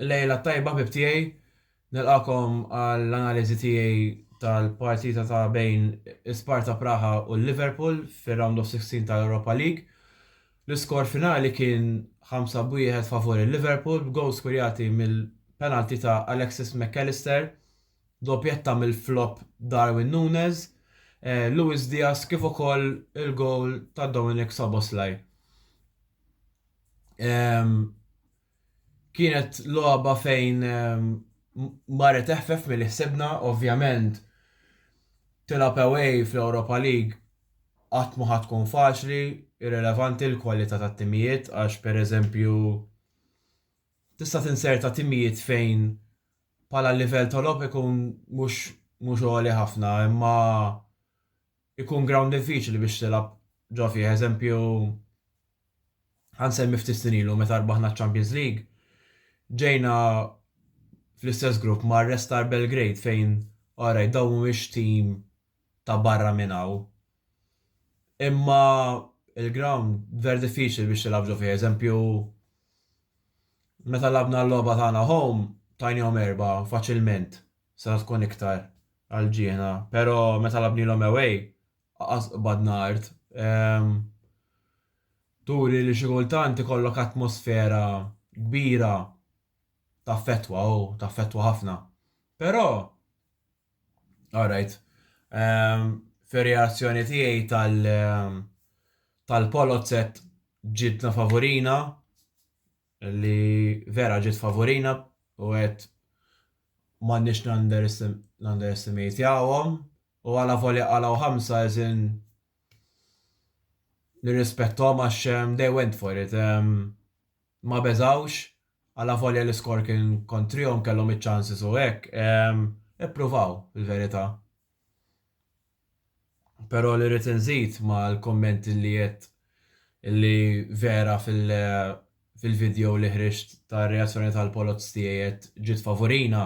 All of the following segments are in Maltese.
Lejla tajba bib tiegħi, nilqakom għall-analiżi tiegħi tal-partita ta' bejn Sparta Praha u Liverpool fir-round of 16 tal-Europa League. L-iskor finali kien ħamsa b'wieħed favur il-Liverpool b'gowls skurjati mill-penalty ta' Alexis Mac Allister, doppjetta mill-flop Darwin Nunez, Luis Diaz kif ukoll il-gowl ta' Dominik Szoboszlai. Kienet logħba fejn marret eħfef milli ħsibna, ovvjament tilgħab away fl-Europa League qatt ma ħa tkun faċli, irrilevanti l-kwalità tat-timijiet għax pereżempju tista' tinzerta timijiet fejn bħala livell ta' logħob ikun mhux mhux għoli ħafna imma Ikun ground diffiċli biex tilgħab ġo fih, eżempju ħa nsemmi ftit snin ilu meta rbaħna ċ-Champions League, ġejna fl-istess grupp ma' Red Star Belgrade fejn alright dawn mhumiex tim ta' barra minn hawn. Imma il-ground ver diffiċli biex tilgħab ġo fih, eżempju meta lagħabna l-logħba tagħna home tajniehom erbgħa faċilment. setgħu tkun iktar għal ġiehna pero meta labnilhom away qas qbadna art turi li xi kultant ikollok atmosfera kbira taffettwa u taffettwa ħafna pero alright fir-reazzjoni tiegħi tal tal-Polozet ġidna favurina li vera ġiet favurina u għedt m'għandniex nanderestimatjawhom u alavolja qalgħu ħamsa as in nirrispetthom għax they went for it, ma beżgħux, alavolja l-iskor kien kontrihom kellhom iċ-chances u hekk, ippruvaw fil-verità. Pero li rrid inżid ma l-kumment li għedt li vera fil fil-video li ħriġt ta reazzjoni tal poloz tiegħi għedt ġiet favurina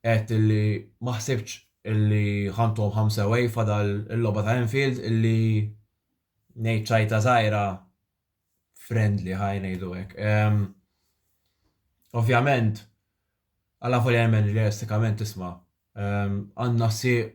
għedt li ma ħsibtx li ħa ntuhom ħamsa away fadal il-logħba ta Anfield li ngħid ċajta żgħira friendly ħaj ngħidu hekk. Ehm, ovvjament għala volja jemmen li realistikament tisma' Għandna sieq,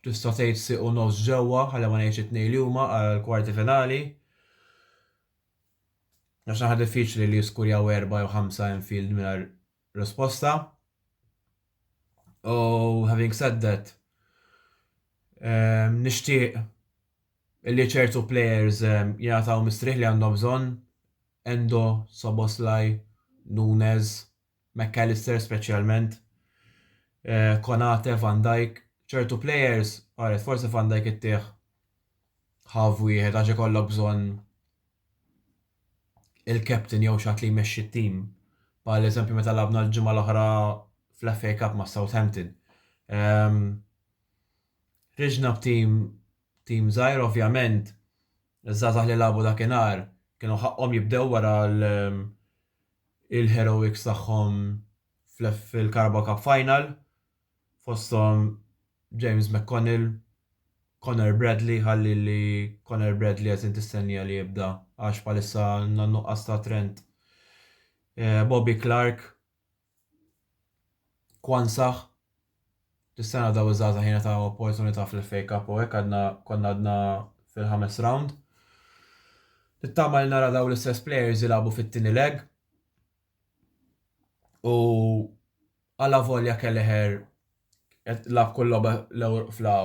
tista' tgħid sieq u nofs ġewwa, ħalli ma ngħidx it-tnejn li huma, għall-kwarti finali. Għax naħa diffiċli li jiskurjaw erbgħa jew ħamsa Anfield mingħajr risposta. U having said that, nixtieq li ċertu players jingħataw mistrieħ li għandhom bżonn, Endo, Szoboszlai, Nunes, McAllister speċjalment, Konate, Van Dijk, ċertu plejers, ara forsi Van Dijk ittih half wieħed għax ikollok bżonn il-captain jew xi ħadd li jmexxi t-tim. Bħal eżempju meta lagħabna l-ġimgħa l-oħra fl-FA Cup ma' Southampton. Ħriġna b'tim tim żgħir ovvjament Iż-żgħażagħ li lagħbu dakinhar kienu ħaqqhom jibdew wara l-heroics tagħhom fil-Carabao Cup Final, fosthom James McConnell, Conor Bradley, ħalli li Conor Bradley qegħdin tistennija li jibda għax bħalissa għandna nuqqas ta' trend. Bobby Clarke Quansah, Tis-sena daw iż-żgħażagħ jingħataw opportunità fl-FA Cup u hekk għadna konna għadna fil-ħames round. Nittama li nara daw l-istess players jilagħbu fit-tieni leg. U għala volja Kelleher qed tilgħab kull logħba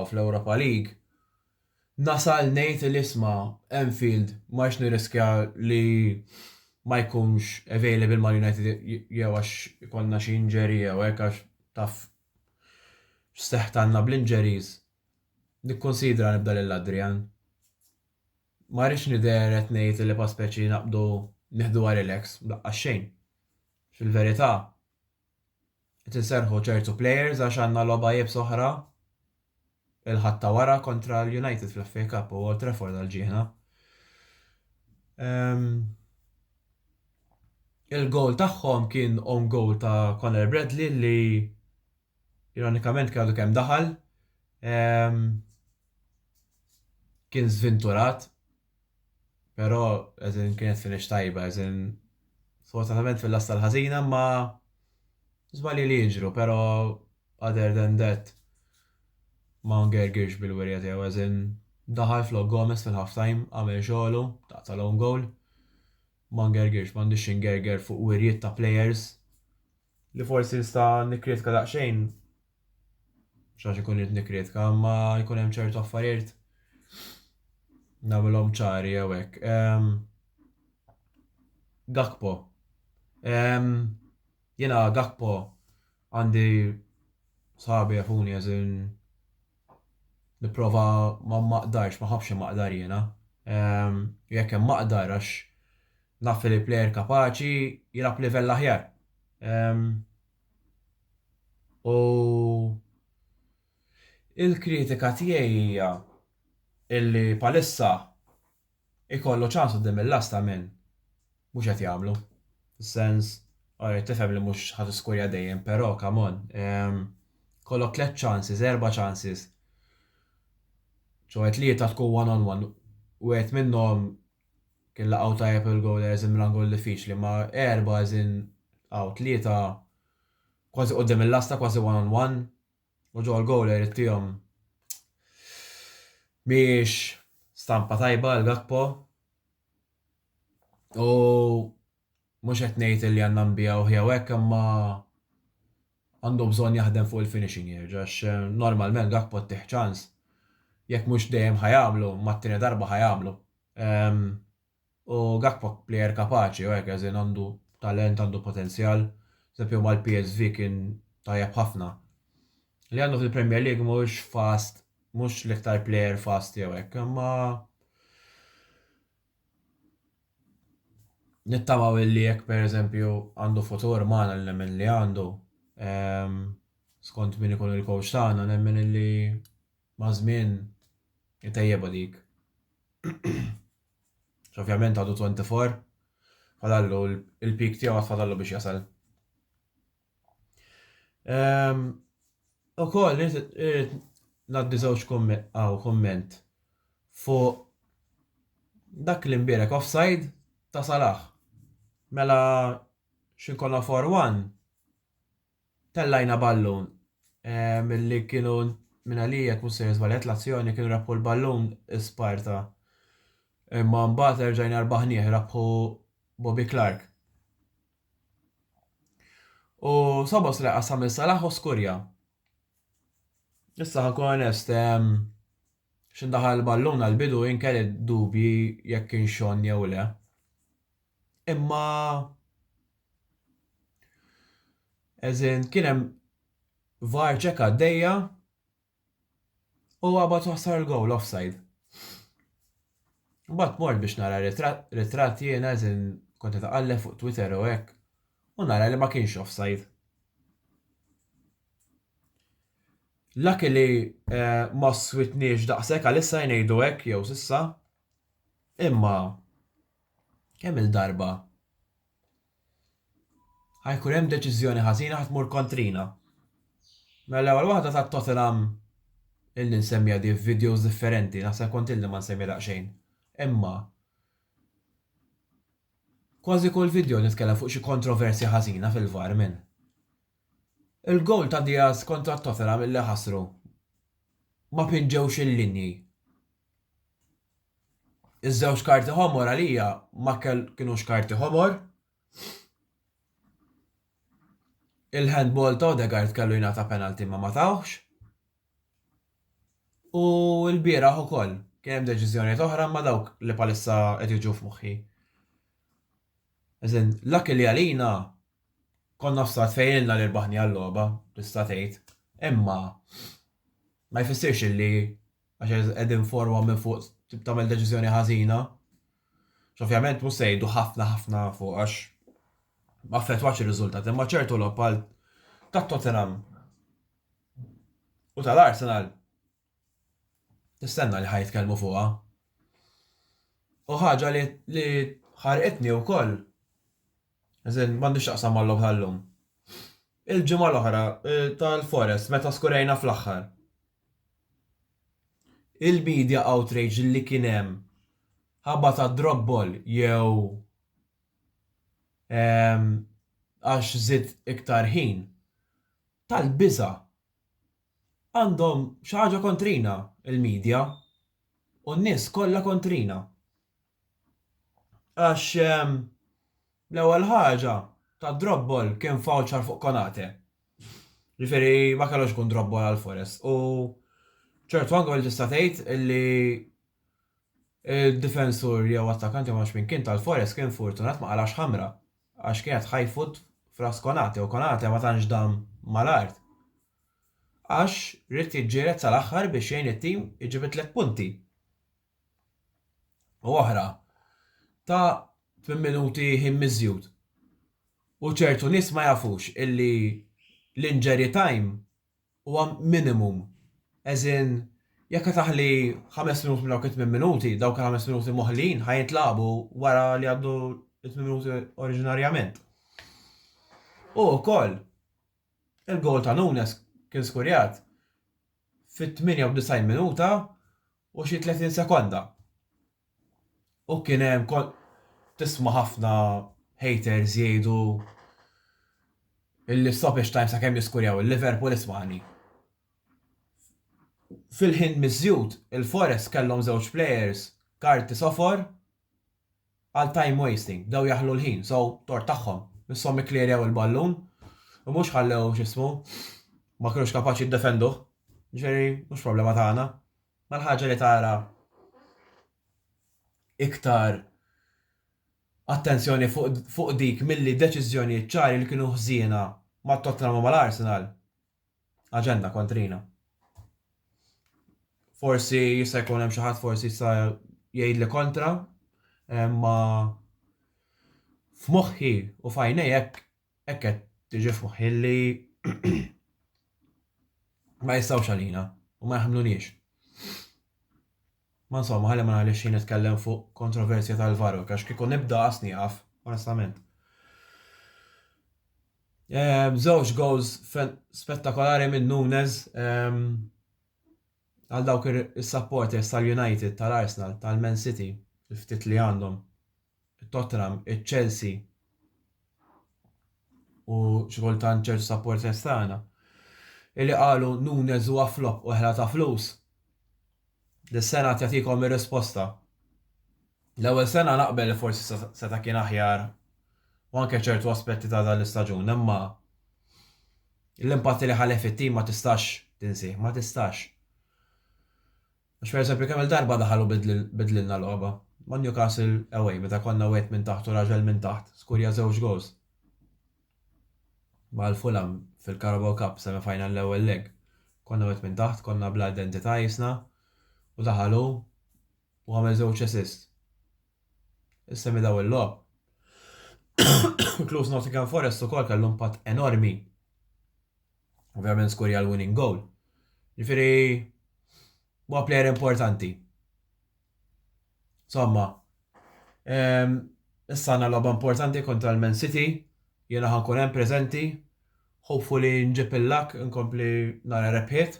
fl-Europa League, nasal ngħid li isma' Anfield ma rridx nirriskja li ma jkunx available ma' United jew għax ikollna xi injury jew hekk għax taf x'seħħ tagħna bl-injuries, nikkunsidra nibda lil Adrian. Ma rridx nidher qed ngħid li pa speċi naqbdu nieħduha relax, laqqas xejn. Fil-verità, Qed inserrħu ċertu players għax għandna logħba iebsa oħra il-Ħadd ta' wara kontra l-United fl-FA Cup u Old Trafford għal ġieħna. Ehm, il-goal tagħhom kien own goal ta' Conor Bradley li ironikament kellu kemm daħal. Ehm, kien żvinturat Pero as in kienet finish tajba as in sfortunatament fil-lasta l-ħażina imma żbalji li jiġru pero other than that ma ngergirx bil-wirja tiegħu as in daħal flok Gomez fil-half time għamel xogħlu ta' tal-own goal ma ngergirx m'għandix xi ngerger fuq wirjiet ta' players li forsi nista' nikkritika daqsxejn xax ikun irid nikkritika, imma jkun hemm ċertu affarijiet nagħmilhom ċari jew hekk. Ehm, Gakpo. Ehm, jiena Gakpo għandi sabi jafuni għazin niprofa ma maqdarx, ma ħafx maqdar jiena. Ehm, jekk hemm maqdar għax Naf li l-plejer kapaċi jilgħab b'livell aħjar. U l-kritika tiegħi hija illi bħalissa jkollu ċans quddiem il-last ta' min mhux qed jagħmlu. Fis-sens, alright tifhem li mhux ħa tiskurja dejjem, però come on. Kollok tliet chances, erba' chances. Ġewwa tlieta tkun one on one. Wieħed minnhom Kien laqgħu tajjeb il-goal as in minn angle diffiċli ma' erba' as in hawn tlieta kważi quddiem il-lasta kważi one on one u ġo l-goal irid tihom mhijiex stampa tajba għal Gakpo u Mhux qed ngħid illi għandna nbigħuh jew hekk imma għandu bżonn jaħdem fuq il-finishing jerġa' għax normalment Gakpo ttih ċans, jekk mhux dejjem ħa jagħmlu, imma t-tieni darba ħa jagħmlu. U Gakpo plejer kapaċi u hekk as in għandu talent, għandu potenzjal. Pereżempju mal-PSV kien tajjeb ħafna. Li għandu fil-Premier League mhux fast, mhux l-iktar plejer fast jew hekk, imma Nittamaw illi jekk pereżempju għandu futur magħna li nemmen li għandu, ehm, skont min ikun il-coach tagħna nemmen illi maż-żmien itejjebha dik. Ovvjament għadu 24 fadallu il-peak tiegħu għad fadallu biex jasal. U koll, naddi żewġ komment fuq dak li mbirek offside ta' Salah. Mela xinkonna 4-1 tellajna ballun milli kienu minn għalijek mhux se żbaljat l-azzjoni kienu rebħu l-ballun Sparta. Imma mbagħad erġajna rbaħnieh rebħu Bobby Clark. U Sobos li qassam lil Salah u skurja. Issa ħankun onest, x'indaħal il-ballun għall-bidu jien kelli dubji jekk kien xonn jew le. Imma eżin kien hemm var ċeka għaddejja U għabat u ħsar il-gowl offside. Mbagħad mort biex nara ritratt jiena eżin kont qed iqalleb fuq Twitter u hekk u nara li ma kienx offside. Laki li eh, ma switniex daqshekk għalissa jnejdu hekk jew sissa. Imma kemm il-darba Ħa jkun hemm deċiżjoni ħażina ħa tmur kontrina. Mela l-ewwel waħda ta' Tottenham ilni nsemmiha di f'videos differenti, naħseb kont ilni ma nsemmi daqsxejn. Imma kważi kull video nitkellem fuq xi kontroversja ħażina fil-VAR minn il-goal ta' Diaz kontra Tottenham illi ħasru ma pinġewx il-linji. Iż-żewġ karti ħomor għalija ma kinux karti ħomor. Il-handball ta' Odegaard kellu jingħata penalti ma ma tawx. U l-bieraħ ukoll kien hemm deċiżjonijiet oħra ma dawk li palissa qed jiġu f'moħħi. Eżin, l-akki li għalina konna f'sat fejlilna li rbaħni għall-logħba, tista' tgħid, imma ma jfissirx li għax qed informa minn fuq tagħmel deċiżjoni ħażina. X'ovvjament mhux se jgħidu ħafna ħafna fuq għax ma affettwax ir-riżultat, imma ċertu logħob għal tat-Tottenham u tal-Arsenal tistenna li ħajt kelmu fuqha. U ħaġa li ħarqitni wkoll As in, m'għandux x'taqsam mal-logħob tal-lum. Il-ġimgħa l-oħra tal-Forest meta skurajna fl-aħħar. Il-media outrage li kien hemm ħabba ta' drop ball jew ehm għax żied iktar ħin, tal-biża'. Għandhom xi ħaġa kontrina il-media u n-nies kollha kontrina. Għax ehm, l-ewwel ħaġa, ta' drobbol kien voucher fuq Konate. Ġifieri ma kellux ikun drobbol għal Forest u ċertu anke li tista' tgħid li difensur jew attakanti ma min kien tal-Forest kien fortunat ma qalax ħamra għax kienet ħajfut fras Konate u Konate ma tantx dam mal-art. Għax rid jiġġieled sal-aħħar biex jgħin it-tim iġib it-tliet punti. u oħra ta' 8 minuti ħin miżjud. U ċertu nies ma jafux illi l-injury time huwa minimum. As in, jekk qed aħli 5 minuti minn dawk it-8 minuti, dawk il-5 minuti moħlin ħa jintlagħbu wara li għaddu 8 minuti oriġinarjament. U wkoll, Il-gowl ta' Nunes kien skurjat fit-98 minuta u xi 30 sekonda u kien hemm kont tisma' ħafna haters jgħidu li stoppage time sakemm jiskurjaw il-Liverpool ismagħni. Fil-ħin miżjud il-Forest kellhom żewġ players karti sofor Għal time wasting. Bdew jaħlu l-ħin, so tort tagħhom. Misshom ikklierjaw il-ballun u mhux ħallew x'ismu ma kinux kapaċi jiddefenduh. Ġifieri mhux problema tagħna. Ma l-ħaġa li tara iktar attenzjoni fuq dik milli deċiżjonijiet ċari li kienu ħżiena mat-Tottenham u mal-Arsenal. aġenda kontrina. Forsi jista' jkun hemm xi ħadd forsi jista' jgħidli kontra, imma f'moħħi u fajnej hekk hekk qed tiġi f'moħħi li ma jistgħux għalina u ma jaħmluniex. Ma insomma, ħalli ma ngħidlekx xejn nitkellem fuq kontroversja tal-Varrok, għax kieku nibda qas nieqaf, onestament. Żewġ goals spettakolari minn Nunes għal dawk is-supporters tal-United, tal-Arsenal, tal-Man City, il-ftit li għandhom. it-Tottenham, iċ-Chelsea u xi kultant ċertu supporters tagħna illi qalu Nunez huwa flop u ħela ta' flus. Dis-sena tjagħtikom ir-risposta. L-ewwel sena naqbel li forsi seta' kien aħjar u anke ċertu aspetti ta' dan l-istaġun, imma l-impatt li ħalef it-tim ma tistax tinsih, ma tistax. Għax pereżempju kemm-il darba daħal u bidlilna logħba. Ma' Newcastle away meta konna wieħed minn taħt u raġel minn taħt skurja żewġ goals. Ma' l-Fulham fil-Carabao Cup semi final l-ewwel leg. Konna wieħed minn taħt, konna bla identità qisna u daħal hu u għamel żewġ assist. Issa minn dawn il-logħob. Inkluż Nottingham Forest ukoll kellu impatt enormi. Ovvjament skurja l-winning goal. Ġifiri, huwa player importanti. Somma, ehm, issa għandna logħba importanti kontra l-Man City, jiena ħankun hemm preżenti, hopefully nġib il-lak, nkompli nara rebħiet.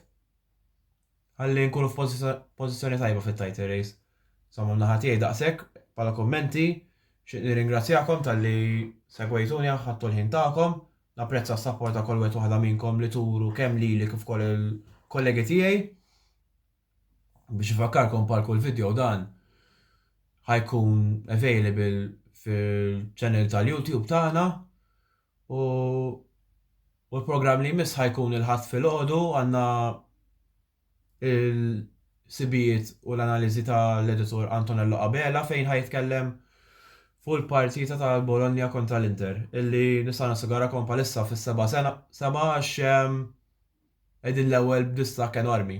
Ħalli nkunu f'pożizzjoni tajba fit-title race. Insomma min-naħa tiegħi daqshekk bħala kummenti. Xtieq nirringrazzjakom talli segwejtuni anke ħadtu l-ħin tagħkom. Napprezza s-sapport ta' kull wieħed waħda minnkom li turu kemm lili kif ukoll il-kollegi tiegħi. Biex infakkarkom bħal kull video dan ħa jkun available fil-channel tal-YouTube tagħna U u l-programm li jmiss ħajkun il-ħadd filgħodu għandna il-sibijiet u l-analiżi tal-editur Antonello Abela fejn ħajtkellem fuq il-partita tal-Bologna kontra l-Inter illi nista' nassigurakom bħalissa fis-seba' sena seba' għax qegħdin l-ewwel b'distakk enormi.